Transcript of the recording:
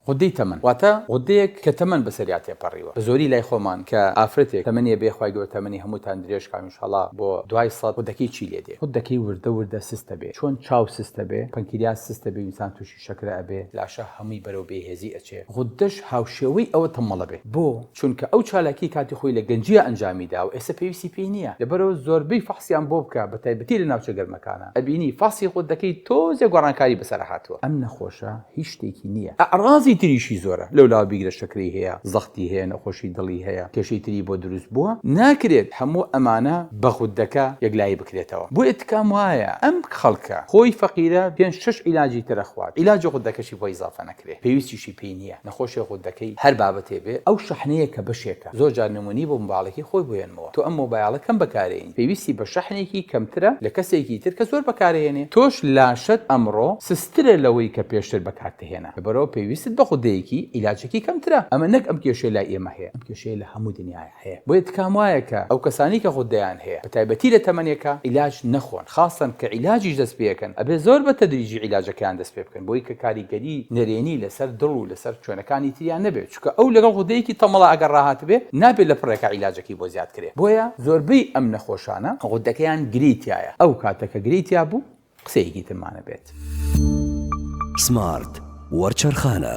غودەی تەمەن واتە غودەیەک کە تەمەن بەسەریا تێپەڕیوە بە زۆری لای خۆمان کە ئافرەتێک تەمەنی هەبێ خوای گەورە تەمەنی هەمووتان درێژ کا انشااللە بۆ دوای سەد غودەکەی چی لێ دێ؟ غودەکەی وردە وردە سستە بێ چۆن چاو سستە بێ پەنکریاس سستە بێ انسان توشی شەکرە ئەبێ لاشە هەمووی بەرەو بێ هێزی ئەچێ غودەش هاوشێوەی ئەوە تەمەڵە بێ بۆ چونکە ئەو چالاکی کاتی خۆی لە گەنجیا ئەنجامی داوە ئێستا پێویستی پێی نیە لەبەرئەوە زۆربەی فەحسیان بۆ بکە بەتایبەتی لە ناوچە گەرمەکانا ئەبینی فەحسی خۆت دەکەی تۆزێ گۆڕانکاری بەسەرا هاتوە ئەم نەخۆشە هیچ شتێکی نیە ئەعڕازی تریشی زۆرە لەولاوە بیگرە شەکرەی هەیە زەختی هەیە نەخۆشی دڵی هەیە کێشەی تری بۆ دروست بوە ناکرێت هەمو ئەمانە بە غودەکە یەکلایی بکرێتەوە بۆیە تکام وایە ئەم خەڵکە خۆی فەقیرە پێنج شەش عیلاجی تر ئەخوات عیلاجی غودەکەشی بۆ ئیزافە نەکرێ پێویستیشی پێی نیە. نەخۆشیە غودەکەی هەر بابەتێ بێ ئەو شەحنەیە کە بەشێکە زۆر جار نمونی بۆ مباڵەکەی خۆی بۆ یەنمەوە تۆ ئەم مۆبایەڵە کەم بەکارێنی پێویستی بە شەحنێکی کەمترە لە کەسێکی تر کە زۆر بەکارەیەنێ تۆش لاشەت ئەمڕۆ سسترە لەوەی کە پێشتر بەکارتهێنا لەبەرئەوە پێویستت بە غودەیەکی ئیلاجەکی کەمترە ئەمە نەک ئەم کێشەیە لای ئێمە هەیە ئەم کێشەیە لە هەموو دنیایە. هەیە بۆیە تکام وایە کە ئەو کەسانەی کە غودەیان هەیە بە تایبەتی لە تەمەنێکە عیلاج نەخۆن خاصەن کە عیلاجیش دەست پێەکەن ئەبێ زۆر بە تەدریجی عیلاجەکەیان دەست پێ بکەن بۆی کە کاریگەری نەرێنی لەسەر دڵ و لەسەر شوێنەکانی تریان نەبێ چونکە ئەو لەگەڵ غودەیەکی تەمەڵا ئەگەر ڕاهاتبێ نابێ لە پڕێکا عیلاجەکەی بۆ زیاد کرێ بۆیە زۆربەی ئەم نەخۆشانە غودەکەیان گرێی تیایە ئەو کاتە کە گرێی تیا بوو قسەیەکی ترمانە بێت. سمارت وەرچەرخانە.